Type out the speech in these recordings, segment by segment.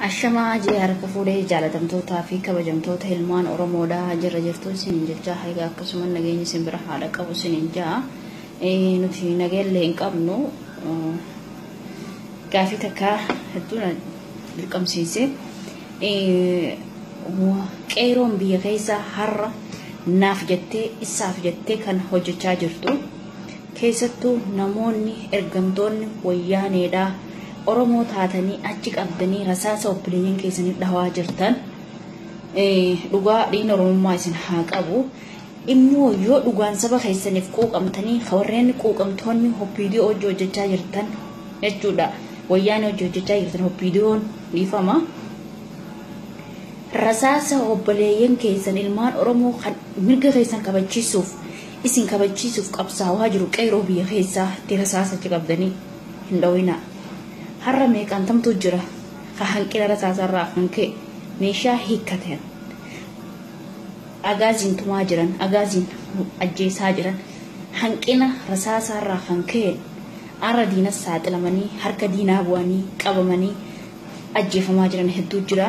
Ashamaa jee harka fuudhee jaalatamtootaa fi kabajamtoota ilmaan Oromoodhaa jirra jirtuun sinin jechaa haiga akkasuma nageenyi sin bira haadha qabu sinin jaa nuti nageellee hin qabnu gaafii takka hedduu na dirqamsiise qeeroon biyya keessa har'a naaf jettee isaaf jettee kan hojjechaa jirtu Keessattuu namoonni ergamtoonni wayyaaneedha Oromoo taatanii achi qabdanii rasaasa obboleeyyan keessanii dhawaa jirtan dhugaa dhiin Oromummaa isin haa qabu. Immoo yoo dhugaan saba keessaniif quuqamtanii warreen quuqamtoonni hoppiidiyoo hojii hojjechaa jirtan jechuudha. Wayyaanee hojii hojjechaa jirtan hoppiidiyoon dhiifama. Rasaasa obboleeyyan keessan ilmaan Oromoo kan mirga keessan kabachiisuuf Isin kabachiisuuf qabsaawaa jiru qeeroo biyya keessaa itti rasaasa achi qabdanii hin dhowinaa. Har'a meeqaantamtu jira ka hanqina rasaasaa irraa kan ka'e meeshaa hiikkatan agaaziin tumaa jiran, agaaziin ajjeesaa jiran, hanqina rasaasaa irraa kan ka'een har'a diinas saaxilamanii, harka diinaa bu'anii, qabamanii, ajjeefamaa jiran hedduu jira.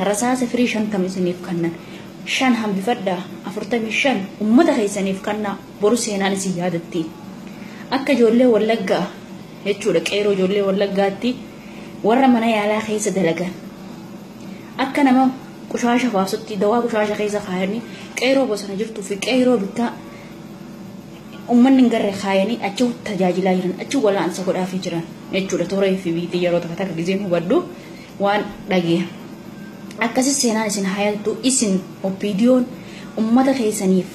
Rasaasa firii shantam isiniif kannan. Shan hambifadhaa, afurtamii shan ummata keessaniif kannaa boru seenaan isin yaadatti. Akka ijoollee Wallaggaa jechuudha qeeroo ijoollee Wallaggaatti warra mana yaalaa keessa dalagan. Akka nama qushaasha baasutti dawaa qushaasha keessa kaayanii qeeroo bosona jirtuu fi qeeroo bittaa Ummanni hin garre kaayanii achi tajaajilaa jiran, achi wal'aansa godhaafii jiran jechuudha. Toora FB tiin yeroo takka takka gizeen hubadhu waan dhageera. Akkasii seenaan isin hayaltu isin OPDOn ummata keessaniif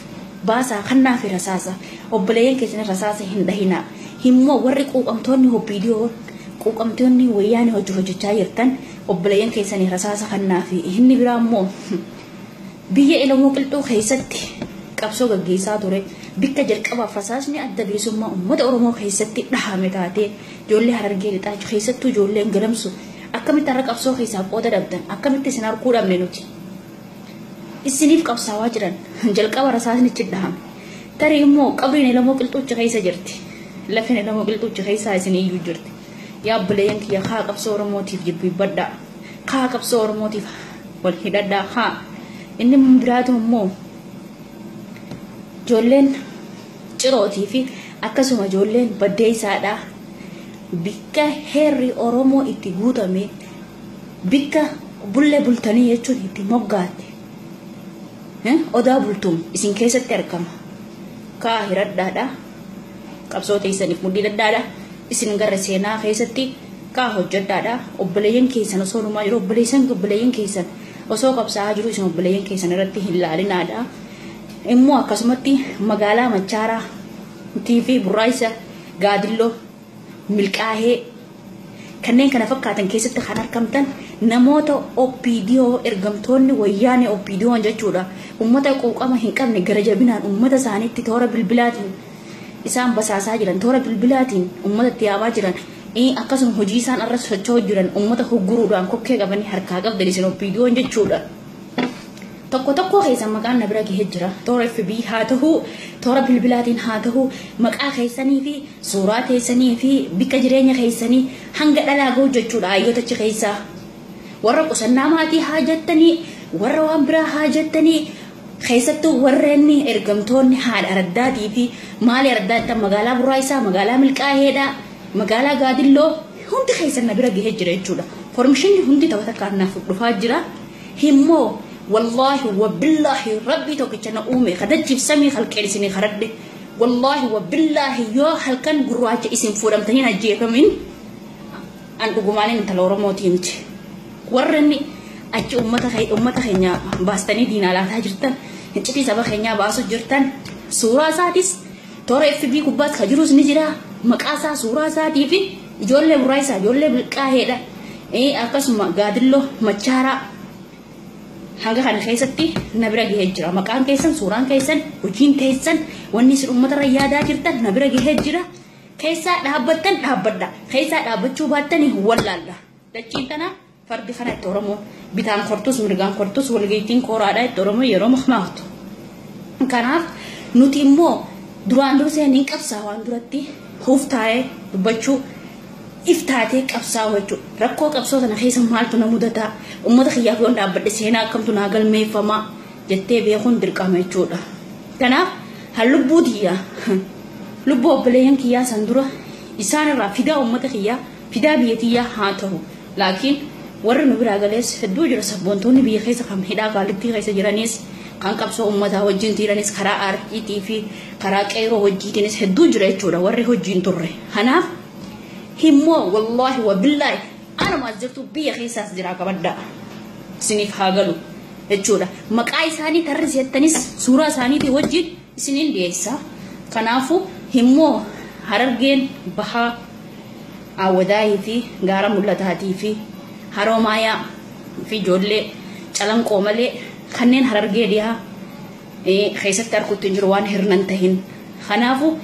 baasaa kannaafi rasaasa obboleeyyan keessanii rasaasa hin dhahinaa. Himmoo warri quuqamtoonni OPDOn quuqamtoonni wayyaanii hojii hojjechaa jirtan obboleeyyan keessanii rasaasa kannaafi inni biraa immoo Biyya Ilamoo Qilxuu keessatti qabsoo gaggeessaa ture, bikka jalqabaaf rasaasni Adda Bilisummaa Uummata Oromoo keessatti dhahame taatee, ijoollee Harargee Lixaa keessattuu ijoolleen Gadamsu akkamitti har'a qabsoo keessaa qooda dhabdan, akkamitti isin arguu dhabne nuti? Isiniif qabsaawaa jiran jalqaba rasaasnichi dhahame. Tarii immoo qabriin Ilamoo Qilxuuchi keessa jirti. Lafeen Ilamoo Qilxuuchi keessaa isin iyyuu jirti. Yaa obboleeyyan kiyya kaa qabsoo Oromootiif jilbiibbadhaa. Kaa qabsoo Oromootiif wal hidhadhaa haa. Inni biraatu immoo ijoolleen cirootii fi akkasuma ijoolleen baddeessaadhaa bikka heerri Oromoo itti guutame bikka bulle bultanii jechuun itti moggaate odaa bultuum isin keessatti argama. Kaa hiradhaadhaa qabsoo teessaniif mudhii dhadhaadhaa isin gara seenaa keessatti Kaa hojjadhaadha obboleeyyan keessan osoo dhumaa jiru obboleessan obboleeyyan keessan osoo qabsaa'aa jiru isin obboleeyyan keessan irratti hin laalinaadha. Immoo akkasumatti magaalaa Machaaraa TV Burraaysa Gaadilloo Milkaahee kanneen kana fakkaatan keessatti kan argamtan namoota OPDO ergamtoonni wayyaanee OPDO'n jechuudha. Uummata quuqama hin qabne gara jabinaan uummata isaaniitti toora bilbilaatiin isaan basaasaa jiran, toora bilbilaatiin ummata itti yaamaa jiran, akkasuma hojii isaan irra socho'aa jiran ummata hogguruudhaan kokkee qabanii harkaa qabdan isin OPDOn jechuudha. Tokko tokkoo keessan maqaan na bira gahee jira. Toora FB haa ta'u, toora bilbilaatiin haa ta'u, maqaa keessanii fi suuraa keessanii fi bakka jireenya keessanii hanga dhalaa gahu jechuudha hayyoota achi keessaa. Warra qusannaa maatii haa jettanii, warra waan biraa haa jettanii, Keessattuu warreen ergamtoonni haadha araddaatii fi maali araddaa jettan magaalaa Burraayisaa, magaalaa Milqaaheedhaa, magaalaa Gaadilloo hundi keessan na bira gahee jira jechuudha. Formishinni hundi tokko takkaan naaf dhufaa jira. Himmoo wallaahi wabbillaahi rabbii tokkicha na uume kadachiif samii halkeen isinii karadhe. Wallaahi wabbillaahi yoo halkan gurraacha isin fuudhamtanii hin ajjeefamin an dhugumaanin intala Oromooti himti. Warra inni achi uummata keenya baastanii diinaa laataa jirtan, hiccitii saba keenyaa baasuu jirtan, suuraa isaatis toora FB kubbaas ka jirus ni jira. Maqaa isaa, suuraa isaatii fi ijoollee burraayisaa, ijoollee bilqaaheedha. Akkasuma gaadilloo machaaraa hanga kana keessatti na bira gahee jira. Maqaan keessan, suuraan keessan, hojiin keessan, wanni isin uummata irra yaadaa jirtan na bira gahee jira. Keessaa dhaabbattan dhaabbadha. Keessaa dhaabbachuu baattanii wallaalladha. Dachiin tana fardi kana itti Oromoon bitaan kortus mirgaan kortus walgaittiin kooraadhaa itti Oromoo yeroo mahmaahtu. Kanaaf nuti immoo duraan dursee niin qabsaa waan duratti huuf taa'ee dubbachuu if taatee qabsaa wachuu rakkoo qabsoo sana keessa maaltu na mudataa uummata kiyyaaf yoon dhaabbadhe seenaa akkamtu naa galmeeffamaa jettee beekuun dirqama jechuudha. Kanaaf han lubbuu tiyyaa lubbuu obboleeyyan kiyyaa san dura isaan irraa fidaa uummata kiyyaa fidaa biyya tiyyaa haa tahu laakiin warri nu biraa galees hedduu jira sabboontoonni biyya keessa kan hidhaa qaallittii keessa jiraniis kan qabsoo ummataa wajjin tiiranis karaa aartiitii fi karaa qeeroo wajjiitiinis hedduu jira jechuudha warri hojiin turre kanaaf himmoo wallaahi wabillaahi anuma as jirtu biyya keessaas jiraa qabaddaa isiniif haa galu jechuudha maqaa isaanii tarrisi jettanis suuraa isaaniitii wajjin isiniin dhiyeessa. Kanaafuu himmoo Harargeen Bahaa Aawwadaayii fi Gaara Mul'ataatii fi Haroomaayaa fi ijoollee Calanqoo malee kanneen Harargee Dhihaa keessatti arkutti hin jiru waan hirnan tahin. Kanaafuu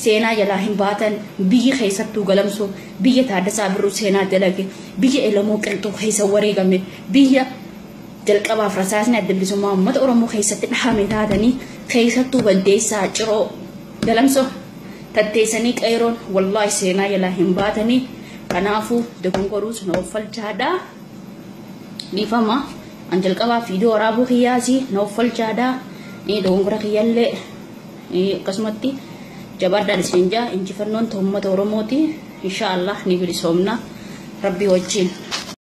seenaa jalaa hin baatan biyyi keessattuu Galamsoo biyya Taaddasaa Birruu seenaa dalage biyya Elemoo Qilxuu keessa wareegame biyya Jalqabaaf rasaasni Adda Bilisummaa Uummata Oromoo keessatti dhahame taatanii keessattuu Baddeessaa, Ciroo, Galamsoo tatteessanii Qeerroon wallaahi seenaa jalaa hin baatanii kanaafuu dogongoruus na offalchaadha. Dhiifama an jalqabaaf viidiyoo waraabuu kiyyaasi na offalchaadha. Dogongora kiyyallee akkasumatti jabaadhaan isin jaa injifannoon uummata Oromooti. Inshaallah ni bilisoomna rabbii wajjin.